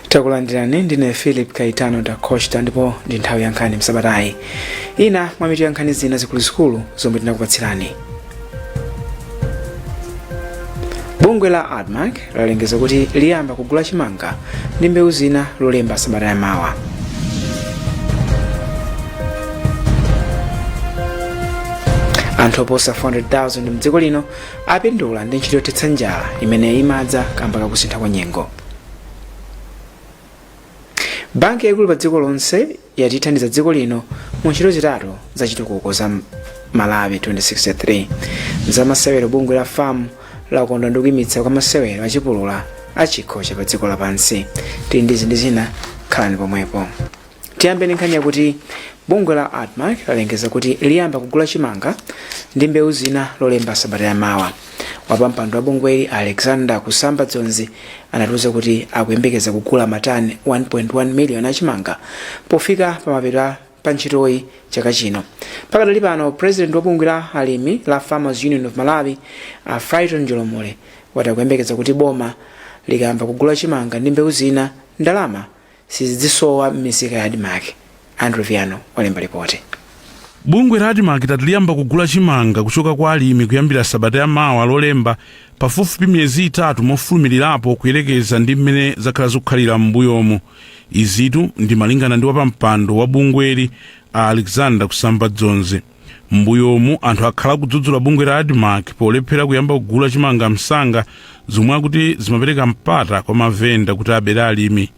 takulandirani ndine philip kaitano da costa ndipo ndi nthawi ya nkhani msabatayi ina mwa mitu ya nkhani zina zikuluzikulu zomwe tinakupatsirani bungwe la admarc lalengeza kuti liyamba kugula chimanga ndi mbewu zina lolemba sabata ya mawa anthu oposa 400,000 mdziko lino apindula ndi ntchito yothetsa njala imene imadza kamba kakusintha kwa nyengo banki yaikulu pa dziko lonse yati ithandiza dziko lino mu ntchito zitatu za chitukuko za malawi 2063 za masewero bungwe la fam lakondwa ndi kuimitsa kwa masewero achipulula a chikho cha pa dziko lapansi tili ndi zi ndi zina khalani pomwepo Tiyambe ndi nkhani yakuti bungwe la admarc lalengeza kuti liyamba kugula chimanga ndi mbewu zina lolemba sabata yamawa wapampando wa bungweli alexander kusamba dzonzi anatiuza kuti akuyembekeza kugula matani 1.1 miliyoni achimanga pofika pamapeto pa ntchitoyi chaka chino pakadali pano president wa bungwe la alimi la farmers union of malawi a frighton njolomole wati akuyembekeza kuti boma likayamba kugula chimanga ndi mbewu zina ndalama sizidzisowa m'misika ya Admarc, Andrew Viano walemba lipoti. Bungwe la Admarc lati liyamba kugula chimanga kuchoka kwa alimi kuyambira sabata ya mawa lolemba pafupifupi miyezi itatu mofulumilirapo kuyerekeza ndi mmene zakhala zikukhalira m'mbuyomu izitu ndi malingana ndi wapampando wa bungweli a Alexander Kusamba Dzonzi. M'mbuyomu anthu akhala akudzudzula bungwe la Admarc polephera kuyamba kugula chimanga msanga zomwe akuti zimapereka mpata kwa mavenda kuti abere alimi.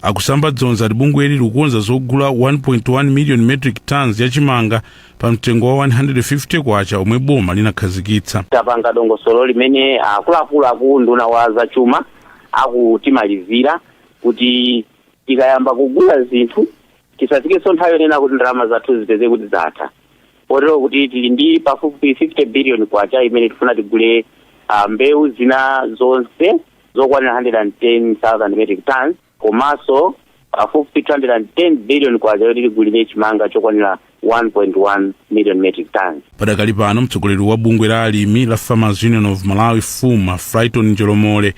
Akusamba Dzonzi ati bungweli likukonza zogula 1.1 million metric tons ya chimanga pa mtengo wa 150 kwacha omwe boma linakhazikitsa. tapanga dongosolo limene akuluakulu akuunduna wa zachuma akutimalizira kuti tikayamba kugula zinthu Tisafikenso nthawi yonena kuti ndalama zathu zipeze kuti zatha kotero kuti tili ndi pafupi 50 biliyoni kwacha imene tifuna tigule mbewu zina zonse zokwanira 110,000 metric tonnes komanso pafupi 210 biliyoni kwacha yoti tigulire chimanga chokwanira 1.1 miliyoni metric tonnes. Padakali pano, mtsogoleri wa bungwe la alimi la Farmers Union of Malawi, FUM, a Frighton Njolomole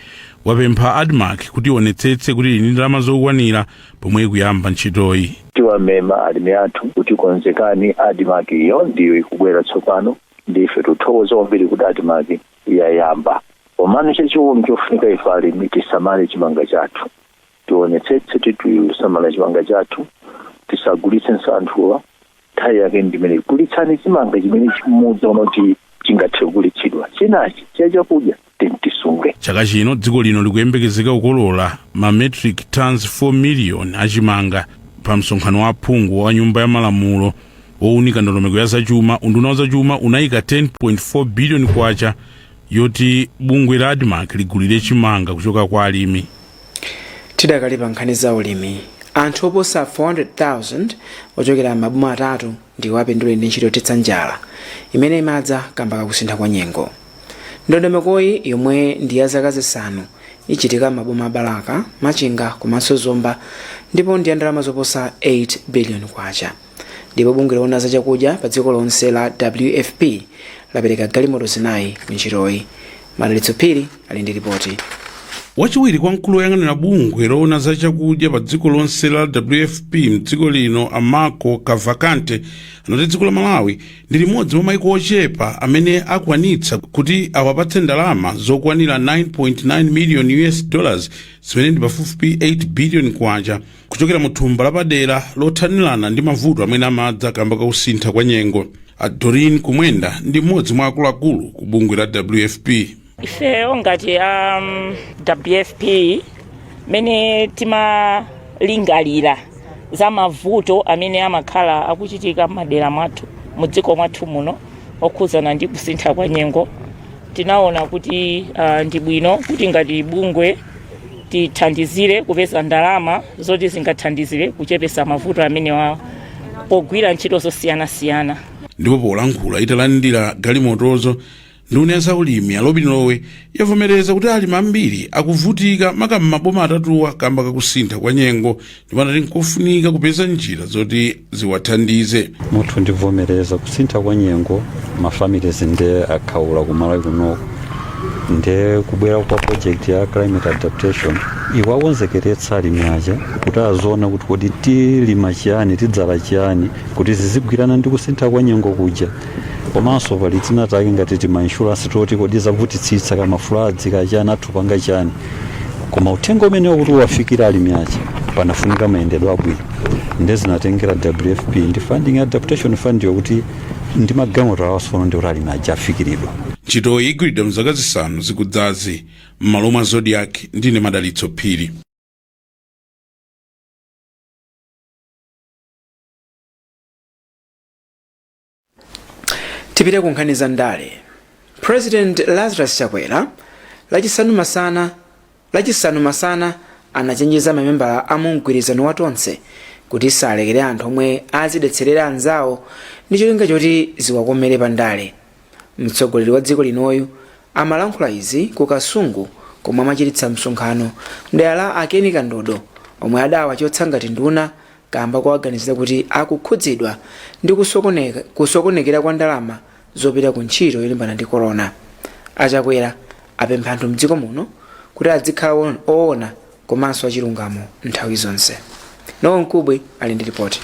wapempha Admarc kuti ionetsetse kuti ili ndi ndalama zokwanira pomwe ikuyamba ntchitoyi. Tiwamema alimi athu kuti konzekani Admarc iyo ndiyo ikubwera tsopano ndi ife tikuthokoza kwambiri kuti Admarc yayamba. Komano chachiwiri chofunika ife alimi tisamale chimanga chathu. Tionetsetse kuti tisamala chimanga chathu tisagulitsenso anthuwa nthawi yake ndi imeneyi. Gulitsani chimanga chimene mukuona kuti chingathe kugulitsidwa. Chinachi cha chakudya tisunge chaka chino dziko lino likuyembekezeka kukolola ma metric tons 4 million achimanga pa msonkhano wa aphungu wa nyumba ya malamulo wowunika ndondomeko ya zachuma unduna wa zachuma unayika 10.4 billion kwacha yoti bungwe la admarc ligulire chimanga kuchoka kwa alimi tidakali pa nkhani za ulimi anthu oposa 400,000 ochokera m'maboma atatu ndiwo apindule ndi ntchito yothetsa njala imene imadza kamba kakusintha kwa nyengo ndondomekoyi yomwe ndi ya zaka zisanu ichitika m'maboma a balaka machinga komanso zomba ndipo ndi ya ndalama zoposa 8 billion kwacha ndipo bungwe loona za chakudya pa dziko lonse la wfp lapereka galimoto zinayi ku ntchitoyi Madalitso Phiri ali ndi lipoti. wachiwiri kwa mkulu woyang'anira bungwe loona za chakudya pa dziko lonse la wfp mdziko lino a marco cavalcante anati dziko la malawi ndi limodzi mwa maiko ochepa amene akwanitsa kuti awapatse ndalama zokwanira 9.9 million us dollars zimene ndi pafupifupi 8 billion kwacha kuchokera mu thumba lapadera lothanirana ndi mavuto amene amadza kamba ka kusintha kwa nyengo a doreen kumwenda ndi mmodzi mwa akuluakulu ku bungwe la wfp ifeyo ngati a um, wfp mmene timalingalira za mavuto amene amakhala akuchitika m'madera mwathu mu dziko mwathu muno okhudzana ndi kusintha kwa nyengo tinaona kuti uh, ndi bwino kuti ngati bungwe tithandizire kupeza ndalama zoti zingathandizire kuchepesa mavuto amenewa pogwira ntchito zosiyanasiyana ndipo polankhula italandira galimotozo nduna ya zaulimi a lobin lowe yavomereza kuti alimi ambiri akuvutika maka m'maboma atatuwa kamba kakusintha kwa nyengo ndipo anati nkofunika kupeza njira zoti ziwathandize muthu ndivomereza kusintha kwa nyengo mafamilies ndi akhaula kumalawi kunoko nde kubwera kwa project ya climate adaptation iwakonzekeretsa alimi aja kuti aziona kuti kodi tilima chiyani tidzala chiyani kuti zizigwirana ndi kusintha kwa nyengo kuja komanso pali tina take ngati tima insurance toti kodi zavutitsitsa kama floods kachani anthu apanga chani koma uthenga umenewo kuti uwafikire alimi aja panafunika mayendedwe abwino nde zinatengera wfp ndi funding adaptation fund yokuti ndi magalimoto awa tsono ndi kuti alimi aja afikiridwa ntchitoyi igwiridwa mzaka zisanu zikudzazi m'malo mwa zodiak ndine madalitso phiri tipite ku nkhani za ndale president lazarus chakwera lachisanu masana anachenjeza mamembala a mumgwirizano wa tonse kuti salekere anthu omwe azidetserera anzawo ndi cholinga choti ziwakomere pa ndale mtsogoleri wa dziko linoyu amalankhula izi ku kasungu komwe amachititsa msonkhano mdera la a ken kandodo omwe adawachotsa ngati nduna kaamba kowaganizira kuti akukhudzidwa ndi kusokonekera kwa ndalama zopita ku ntchito yolimbana ndi corona. A Chakwera apempha anthu mdziko muno kuti adzikhala oona komanso achilungamo nthawi zonse. Nowa Nkubwi ali ndi ripoti.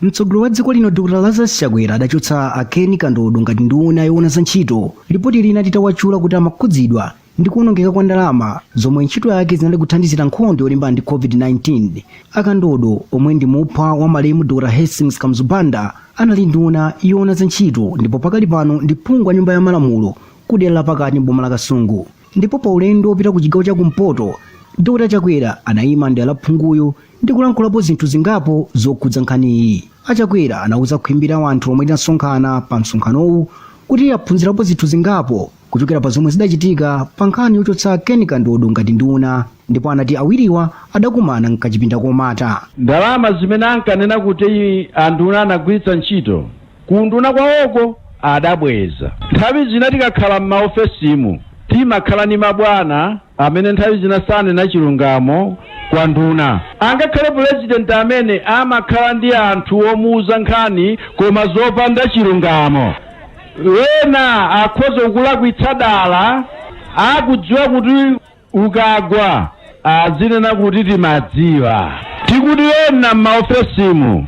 mtsogoleri wa dziko lino dr lazarus chakwera adachotsa a ken kandodo ngati nduna yoona za ntchito lipoti lina litawatchula kuti amakhudzidwa ndi kuonongeka kwa ndalama zomwe ntchito yake zinali kuthandizira nkhondo yolimbana ndi covid-19 a kandodo omwe ndi muphwa wa malemu dr hastings kamuzu banda anali nduna yoona za ntchito ndipo pakali pano ndi phungu wa nyumba ya malamulo ku dera lapakati m'boma la kasungu ndipo pa ulendo wopita ku chigawo cha kumpoto dr chakwera anayima ndi a phunguyu ndi kulankhulapo zinthu zingapo zokhudza nkhaniyi a chakwera anauza khwimbi la wanthu lomwe linasonkhana pa msonkhanowu kuti aphunzirapo zinthu zingapo kuchokera pa zomwe zidachitika pa nkhani yochotsa Ken Kandodo ngati nduna ndipo anati awiriwa adakumana mkachipinda komata. Ndalama zimene ankanena kuti anduna anagwiritsa ntchito kuunduna kwawoko adabweza. Nthawi zina tikakhala m'maofesimu timakhala ndi mabwana amene nthawi zina sanena chilungamo kwa nduna. Angakhale pulezidenti amene amakhala ndi anthu omuuza nkhani koma zopanda chilungamo. Ena akhoza kukulakwitsa dala, akudziwa kuti ukagwa azinena kuti timadziwa. Tikuti ena m'maofesimu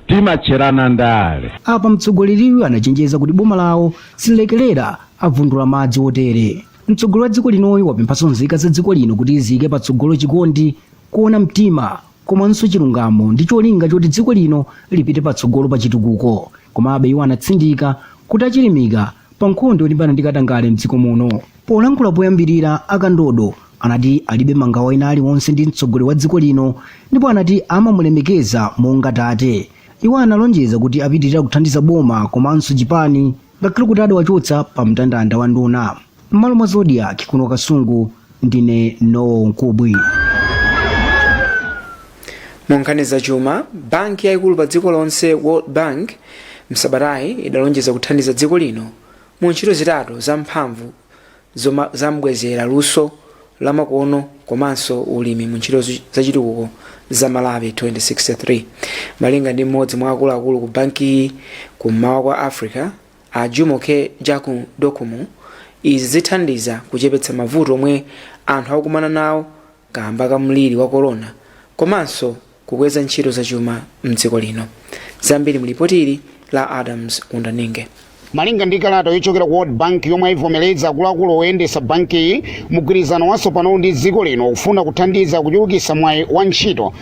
timatcherana ndale. Apa mtsogoleriyu anachenjeza kuti boma lawo sililekerera avundula madzi otere. Mtsogoleri wa dziko linoyu wapemphanso nzika za dziko lino kuti ziike patsogolo chikondi, kuona mtima, komanso chilungamo ndi cholinga choti dziko lino lipite patsogolo pa chitukuko komabe iwo anatsindika kuti achilimika pa nkhondo yolimbana ndi katangale mdziko muno polankhula poyambirira a kandodo anati alibe mangawa ena aliwonse ndi mtsogoleri wa dziko lino ndipo anati amamulemekeza monga tate iwo analonjeza kuti apitirira kuthandiza boma komanso chipani ngakhale kuti adawachotsa pa mndandanda wa nduna m'malo mwa zodiak kuno kasungu ndine nowa nkubwi mu nkhani zachuma banki yayikulu pa dziko lonse world bank msabatayi idalonjeza kuthandiza dziko lino mu ntchito zitatu zamphamvu zoma zambwezera luso lamakono komanso ulimi mu ntchito zu- zachitukuko za malawi 2063 malinga ndi mmodzi mwa akuluakulu ku bankiyi kummawa kwa africa a jumoke jagun dokunmu izi zithandiza kuchepetsa mavuto omwe anthu akukumana nawo kaamba ka mliri wa korona komanso kukweza ntchito zachuma m'dziko lino. Zambiri mu lipoti ili la Adams Wundaninge. malinga ndi kalata yochokera ku world bank yomwe ayivomereza akuluakulu oyendetsa bankiyi mgwirizano watsopanowu ndi dziko lino ufuna kuthandiza kuchulukitsa mwayi wa ntchito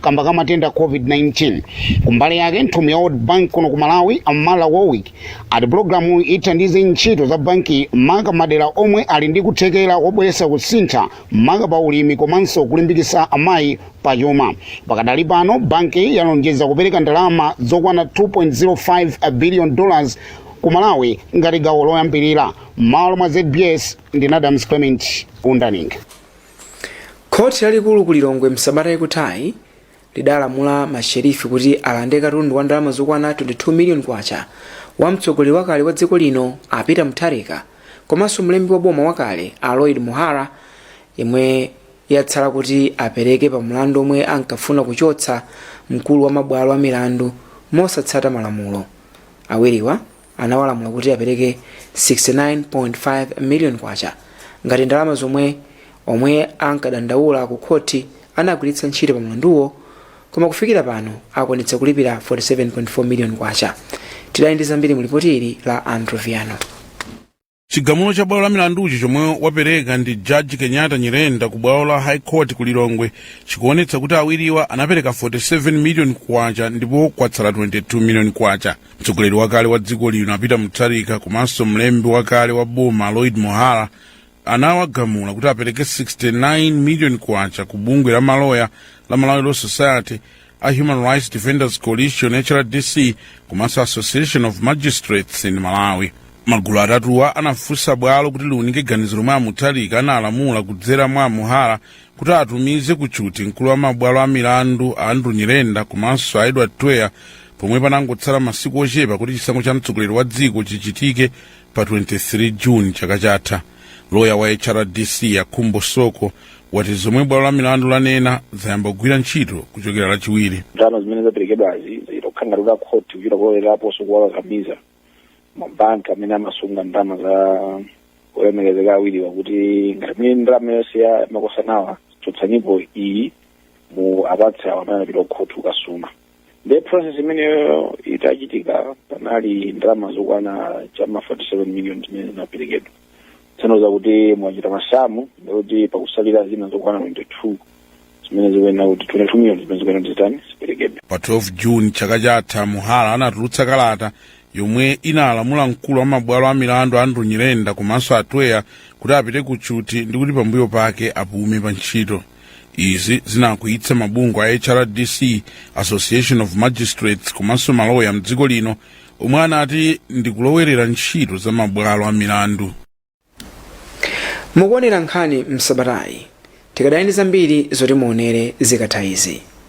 kamba ka matenda a covid-19 kumbali yake nthumwi ya world bank kuno ku malawi a mara warwick ati pulogalamu ithandize ntchito za banki maka madera omwe ali ndi kuthekera wobweretsa kusintha maka pa ulimi komanso kulimbikitsa amayi pa chuma pakadali pano banki yalonjeza kupereka ndalama zokwana 2.05 billion dollars ku malawi ngati gawo loyambirira mmalo mwa zbs ndine adams clement wundaninge Khoti lalikulu ku Lilongwe msabata ikuthayi lidalamula ma sherifi kuti alande katundu wa ndalama zokwana 22 million kwacha wa mtsogoleri wakale wa dziko lino a Peter Mutharika komanso mlembi wa boma wakale a Lloyd Muhara yomwe yatsala kuti apereke pa mlandu omwe ankafuna kuchotsa mkulu wa mabwalo a milandu mosatsata malamulo awiriwa anawalamula kuti apereke 69.5 million kwacha ngati ndalama zomwe omwe ankadandaula ku khoti anagwiritsa ntchito pa mlanduwo koma kufikira pano akwanitsa kulipira 47.4 million kwacha tidali ndi zambiri mu lipoti ili la andrew viano chigamulo cha bwalo la milanduchi chomwe wapereka ndi jaji kenyatta nyirenda ku bwalo la high court ku lilongwe chikuonetsa kuti awiriwa anapereka 47 miliyoni kwacha ndipo kwatsala 22 miliyoni kwacha mtsogoleri wakale wa dziko lino a peter mutharika komanso mlembi wakale wa boma a lloyd muhara anawagamula kuti apereke 69 miliyoni kwacha ku bungwe la maloya la malawi law society a Human Rights Defenders Coalition HRDC komanso Association of Magistrates in Malawi. Magulu atatuwa anafunsa bwalo kuti liunike ganizo lomwe a Mutharika analamula kudzera mwa a Muhara kuti atumize ku tchuthi mkulu wa mabwalo a milandu a Andrew Nyirenda komanso a Edward Twea pomwe panangotsala masiku ochepa kuti chisankho cha mtsogoleri wa dziko chichitike pa 23 june chaka chatha loya wa hrdc a khumbo soko wati zomwe bwalo la milandu lanena zayamba kugwira ntchito kuchokera lachiwiri ndalama zimene zaperekedwazi zilokhangaliro la khoti kuchita kuloleraponso kuwakakamiza mabanki amene amasunga ndalama za olemekezeka awiriwa kuti ngati mene ndalama yonse ya makosanawa chotsanipo iyi muwapatse awo amene anapita kukhoti kukasuma nde process imeneyo itachitika panali ndalama zokwana chama 47 million zimene zinaperekedwa tsono zakuti mwachita masamu ndikuti pakusalira zina zokwana 22 zimene zikuyenera kuti 22 million zimene zikuyenera kuti zitani ziperekedwe pa 12 june chaka chatha muhara anatulutsa kalata yomwe inalamula mkulu wa mabwalo a milandu andrew nyirenda komanso a twea kuti apite ku tchuthi ndikuti pambuyo pake apume pa ntchito izi zinakwiyitsa mabungwe a hrdc association of magistrates komanso maloya mdziko lino omwe anati ndikulowerera ntchito za mabwalo a milandu mukuonera nkhani msabatayi tikadali ndi zambiri zoti muonere zikatha izi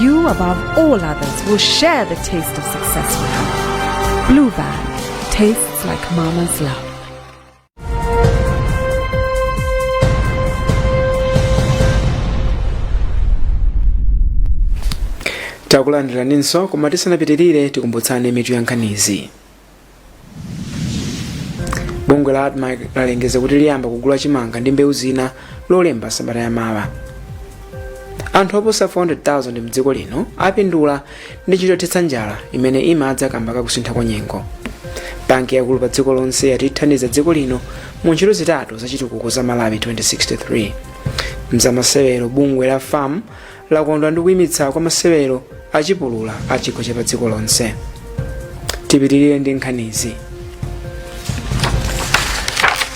You, above all others, will share the taste of success with her. Blue Band tastes like mama's love. takulandiraniso koma tisanapitirire tikumbutsane mitu yankhanizi bungwe la admarc lalengeza kuti liyamba kugula chimanga ndi mbewu zina lolemba sabata yamawa anthu oposa 400,000 mdziko lino apindula ndi ntchito yothetsa njala imene imadza kamba kakusintha kwa nyengo banki yaikulu pa dziko lonse yati ithandiza dziko lino mu ntchito zitatu zachitukuko za malawi 2063 mzamasewero bungwe la fam lakondwa ndi kuimitsa kwa masewero a chipulula a chikho cha padziko lonse tipitirire ndi nkhanizi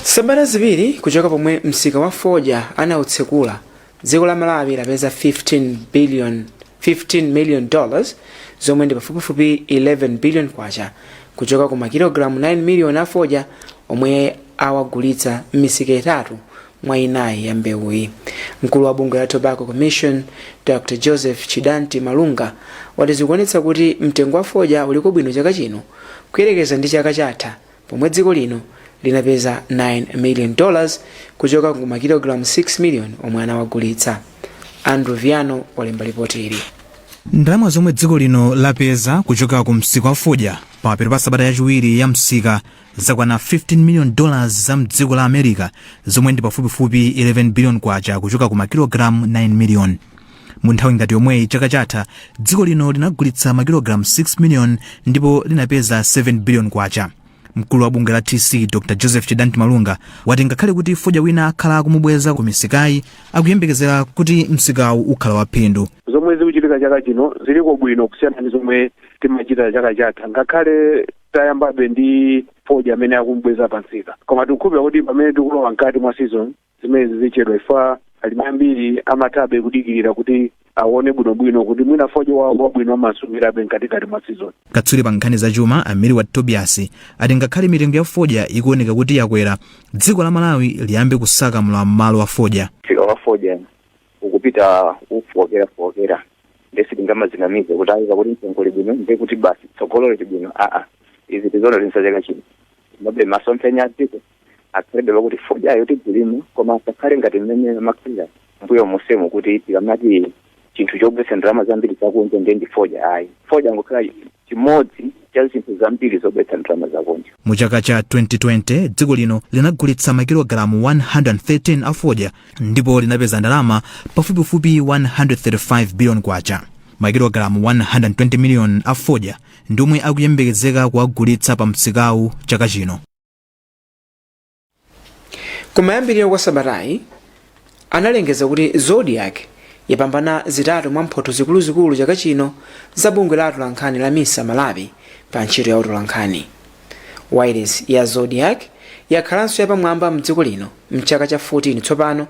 sabata ziwiri kuchoka pomwe msika wa fodya anautsekula dziko la malawi lapeza 15 billion 15 million dollars zomwe ndi pafupifupi 11 billion kwacha kuchoka ku makilogalamu 9 miliyoni a fodya omwe awagulitsa m'misika itatu mwa inayi ya mbewuyi mkulu wa bungwe la tobacco commission dr joseph chidanti malunga wati zikuonetsa kuti mtengo wa fodya uliko bwino chaka chino kuyerekeza ndi chaka chatha pomwe dziko lino linapeza 9 million dollars kuchoka ku makilogalamu 6 million omwe anawagulitsa andrew viano walemba lipoti ili ndalama zomwe dziko lino lapeza kuchoka ku msika wa fodya pamapeto pa sabata yachiwiri ya msika zakwana 15 million dollars za mdziko la america zomwe ndi pafupifupi 11 billion kwacha kuchoka ku makilogalamu 9 million mu nthawi ngati yomweyi chaka chatha dziko lino linagulitsa makilogalamu 6 million ndipo linapeza 7 billion kwacha mkulu wa bungwe la tc dr joseph chidanti malunga wati ngakhale kuti fodya wina akhala akumubweza ku misikayi akuyembekezera kuti msikawu ukhala waphindu zomwe zikuchitika chaka chino ziliko bwino kusiyana ndi zomwe timachita chaka chatha ngakhale tayambabe ndi fodya amene akumubweza pa msika koma tikukhulupirira kuti pamene tikulowa mkati mwa season zimenezi zichepa chifukwa alimi ambiri amathabe kudikirira kuti aone bwinobwino kuti mwina fodya wawo wabwino amasungirabe mkatikati mwa season katswiri pa nkhani za chuma a milward tobias ati ngakhale mitengo ya fodya ikuoneka kuti yakwera dziko la malawi liyambe kusaka mlowa m'malo wa fodya msika wa fodya ukupita ukufowokera fowokera nde sitingamadzinamize kuti ayi pakuti mtengo uli bwino nde kuti basi tsogolo lili bwino aa izi tizoona linso chaka chino komabe masomphenya a dziko akhalebe pakuti fodyayo tizilima koma asakhale ngati mmene amakhalira mbuyo monsemu kuti tikamati chinthu chobweretsa ndalama zambiri zakunja nde ndi fodya ayi fodya angokhala chimodzi cha zinthu zambiri zobweretsa ndalama zakunja. Mu chaka cha 2020, dziko lino linagulitsa makilogalamu 113 a fodya ndipo linapeza ndalama pafupifupi 135 billion kwacha. Makilogalamu 120 million a fodya ndi omwe akuyembekezeka kuwagulitsa pa msikawu chaka chino. kumayambiriro kwa sabatayi analengeza kuti zodiak yapambana zitatu mwa mphotho zikuluzikulu chaka chino za bungwe la atolankhani la misa malawi pa ntchito ya utolankhani wailesi ya zodiak yakhalanso yapamwamba mdziko lino mchaka cha 14 tsopano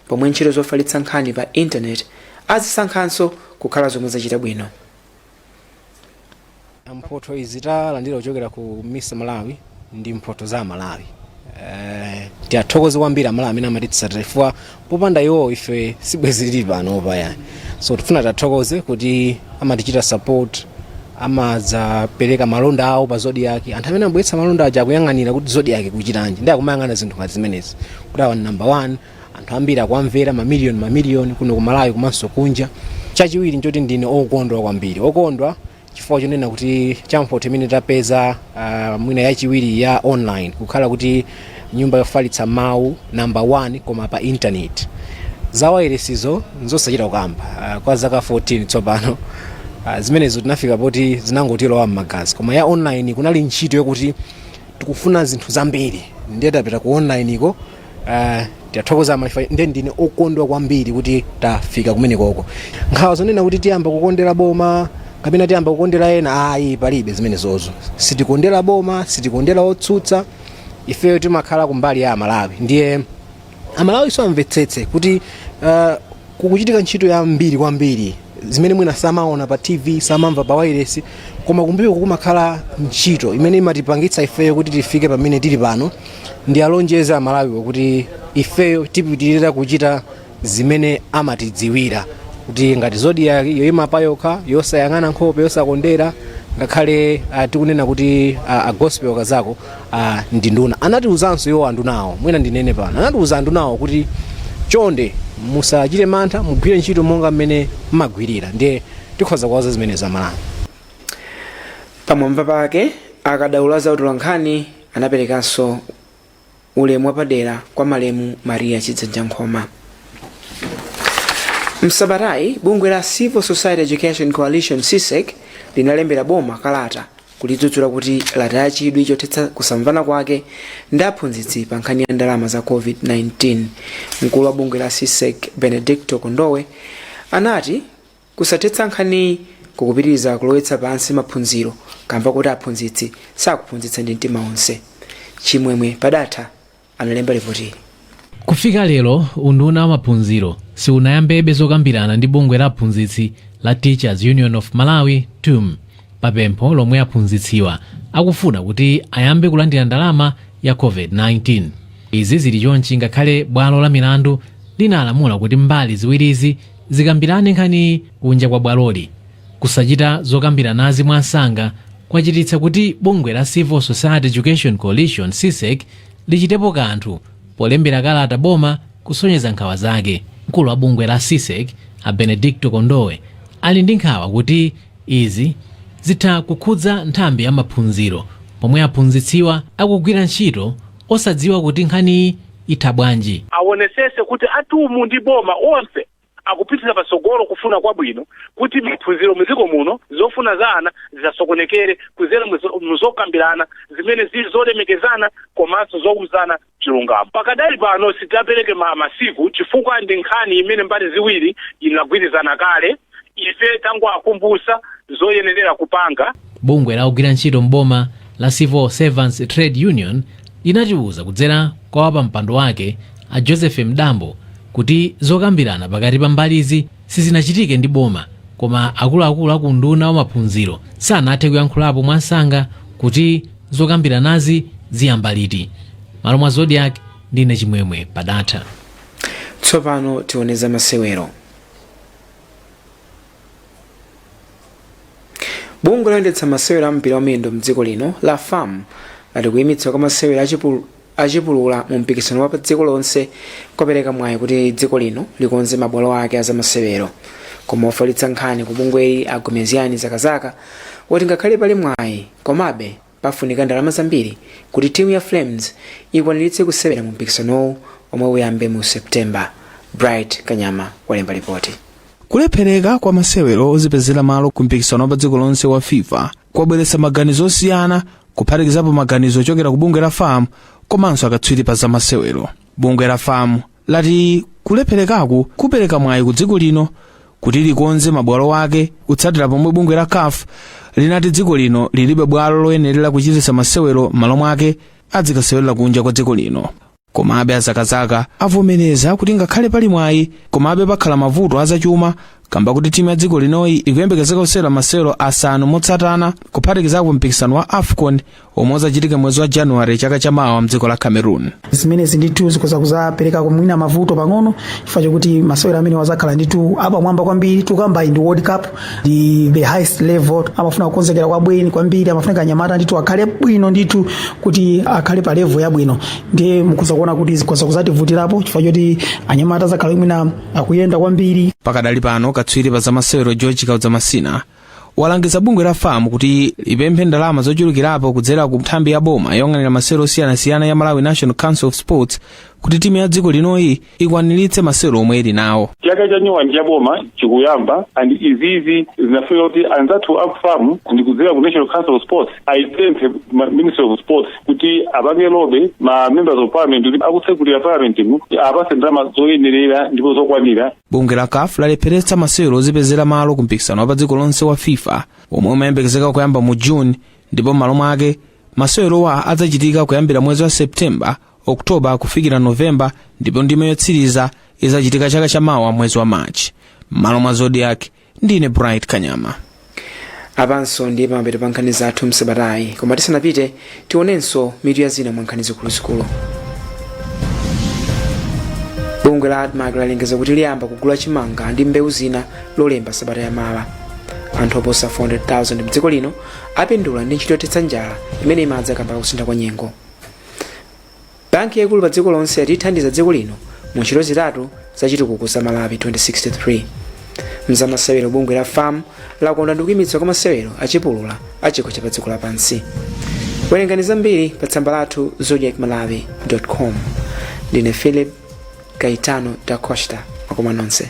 pomwe ntchito zofalitsa nkhani pa intaneti azisankhanso kukhala zomwe zachita bwino mphotho izi talandira kuchokera ku misa malawi ndi mphotho za amalawi Eh, tiyathokoze kwambiri amalawi amene amatitsatira chifukwa popanda iwo ife sibwezi tili pano payani so tifuna tiathokoze kuti amatichita support amadzapereka malonda awo pa zodiak anthu amene amabweretsa malonda aja akuyang'anira kuti zodiak ikuchitanji ndi akumayang'ana zinthu ngati zimenezi kuti awa ni number one anthu ambiri akuwamvera mamiliyoni mamiliyoni kuno ku malawi komanso kunja chachiwiri nchoti ndine okondwa kwambiri okondwa chifukwa chonena kuti cha mphotho imene tapeza uh, mwina yachiwiri ya online kukhala kuti nyumba yofalitsa mawu namba 1 koma pa intaneti za wailesizo nzosachita kukamba uh, kwa zaka 14 tsopano uh, zimenezo tinafika poti zinangotilowa m'magazi koma ya online kunali ntchito yokuti tikufuna zinthu zambiri ndiye tapita ku online iko Uh, tiathokoza amalawi nde ndine okondwa kwambiri kuti tafika kumenekoko nkhawa zonena kuti tiyamba kukondera boma kapena tiyamba kukondera ena ayi palibe zimenezozo sitikondera boma sitikondera otsutsa ifeyo timakhala kumbali ya amalawi ndiye amalawinso amvetsetse kuti uh, kukuchitika ntchito yambiri kwambiri zimene mwina samaona pa tv samamva pa wailesi koma kumbuyo kukumakhala ntchito imene imatipangitsa ifeyo kuti tifike pamene tili pano ndialonjeza amalawiwo kuti ifeyo tipitirira kuchita zimene amatidziwira kuti ngati zodiak yoima payokha yosayang'ana nkhope yosakondera ngakhale uh, tikunena kuti uh, a gospel kazako ndi nduna anatiuzanso iwo andunawo mwina ndinene pano anatiuza andunawo kuti chonde musachite mantha mugwire ntchito monga mmene mmagwirira ndiye tikhoza kuwauza zimene zamalamulo pamwamba pake akadaulo za utolankhani anaperekanso ulemu wapadera kwa malemu maria chidzanja nkhoma msabatayi bungwe la civil society education coalition csec linalembera boma kalata kulidzudzula kuti lataya chidwi chothetsa kusamvana kwake ndi aphunzitsi pa nkhani ya ndalama za covid-19 mkulu wa bungwe la csec benedicto kondowe anati kusathetsa nkhaniyi kukupitiriza kulowetsa pansi maphunziro kamba kuti aphunzitsi sakuphunzitsa ndi mtima onse chimwemwe padatha analemba lipotili. Kufika lero, unduna wa maphunziro siunayambebe zokambirana ndi bungwe la aphunzitsi la Teachers Union of Malawi, TUM, pa pempho lomwe aphunzitsiwa akufuna kuti ayambe kulandira ndalama ya COVID-19. Izi zili chonchi ngakhale bwalo la milandu linalamula kuti mbali ziwirizi zikambirane nkhaniyi kunja kwa bwaloli. Kusachita zokambiranazi mwansanga kwachititsa kuti bungwe la Civil Society Education Coalition, CSEC, lichitepo kanthu polembera kalata boma kusonyeza nkhawa zake. Mkulu wa bungwe la CSEC, a Benedicto Kondowe, ali ndi nkhawa kuti izi zitha kukhudza nthambi ya maphunziro pomwe aphunzitsiwa akugwira ntchito osadziwa kuti nkhaniyi itha bwanji. awonetsetse kuti a tum ndi boma onse akupitira patsogolo kufuna kwabwino kuti maphunziro mu dziko muno zofuna za ana zisasokonekere kuzera mu zokambirana zimene zili zolemekezana komanso zouzana chilungamo. Pakadali pano sitidapereke ma masiku chifukwa ndi nkhani imene mbali ziwiri inagwirizana kale, ife tangowakumbutsa zoyenelera kupanga. Bungwe la ogwira ntchito m'boma la Civil Servants Trade Union, linatiuza kudzera kwa wapampando wake a Joseph Mdambo kuti zokambirana pakati pa mbalizi sizinachitike ndi boma koma akuluakulu a ku unduna wa maphunziro sanathe kuyankhulapo mwansanga kuti zokambiranazi ziyamba liti malo mwa zodiak ndine chimwemwe padatha tsopano tione za masewero bungwe loyendetsa masewero a mpira wamiyendo mdziko lino la fam lati kuyimitsa kwa masewero achipu- achipulula mu mpikisano wa pa dziko lonse kwapereka mwayi kuti dziko lino likonze mabwalo ake azamasewero koma ofalitsa nkhani ku bungweli a gomezgani zakazaka wati ngakhale pali mwayi komabe Pafunika ndalama zambiri kuti timu ya Flames ikwaniritse kusewera mu mpikisanowu omwe uyambe mu September. Bright Kanyama walemba lipoti. Kulephereka kwa masewero ozipezera malo ku mpikisano wa pa dziko lonse wa FIFA kwabweretsa maganizo osiyana kuphatikizapo maganizo ochokera ku bungwe la FAM komanso akatswiri pa zamasewero. Bungwe la FAM lati kulepherekaku kupereka mwayi ku dziko lino kuti likonze mabwalo ake kutsatira pomwe bungwe la caf linati dziko lino lilibe bwalo loyenerera kuchititsa masewero m'malo mwake azikasewerera kunja kwa dziko lino komabe a zakazaka avomereza kuti ngakhale pali mwayi komabe pakhala mavuto azachuma kamba kuti timu ya dziko linoyi ikuyembekezeka kusewera masewero asanu motsatana kuphatikizapo mpikisano wa afcon omwe uzachitika mwezi wa january chaka cha mawa mdziko la cameroon zimenezi ndithu zikhoza kuzapereka kumwina mavuto pang'ono chifukwa chokuti masewero amenewa azakhala ndithu apamwamba kwambiri tikukamba ndi world cup ndi the highest level amafuna kukonzekera kwabwino kwambiri amafuna kuti anyamata ndithu akhale bwino ndithu kuti akhale pa level yabwino ndiye mukhoza kuona kuti zikhoza kuzativutirapo chifukwa choti anyamata azakhala mwina akuyenda kwambiri pakadali pano katswiri pa zamasewero george kaudza masina walangiza bungwe la fam kuti lipemphe ndalama zochulukirapo kudzera ku nthambi ya boma yoyang'anira masewero osiyanasiyana ya malawi national council of sports kuti timu ya dziko linoyi ikwaniritse masewero omwe ili nawo chaka cha nyuwani cha boma chikuyamba and izizi zikufunika kuti anzathu a fam ndi kudzera ku national council of sports ayipemphe ministry of sports kuti apange lobby ma members of parliament kuti akutsekulira parliament mu awapatse ndalama zoyenerera ndipo zokwanira bungwe la caf lalepheretsa masewero ozipezera malo ku mpikisano wapadziko lonse wa fifa omwe umayembekezeka kuyamba mu june ndipo m'malo mwake masewerowa adzachitika kuyambira mwezi wa septemba oktoba kufikira novemba ndipo ndime yotsiriza izachitika chaka chamawa mwezi wa march m'malo mwa zodiak ndine bright kanyama apanso ndiye pamapeto pa nkhani zathu msabatayi koma tisanapite tionenso mitu ya zina mwa nkhani zikuluzikulu bungwe la admarc lalengeza kuti liyamba kugula chimanga ndi mbewu zina lolemba sabata ya mawa anthu oposa 400,000 mdziko lino apindula ndi ntchito yothetsa njala imene imadza kamba ka kusintha kwa nyengo Banki yaikulu pa dziko lonse yati ithandiza dziko lino mu ntchito zitatu za chitukuko za Malawi 2063. Mzamasewero bungwe la fam lakondwa ndi kuimitsa kwa masewero a chipulula a chikho cha pa dziko lapansi. Werengani zambiri pa tsamba lathu zodiakmalawi.com. Ndine Philip Caetano da Costa. Makoma nonse.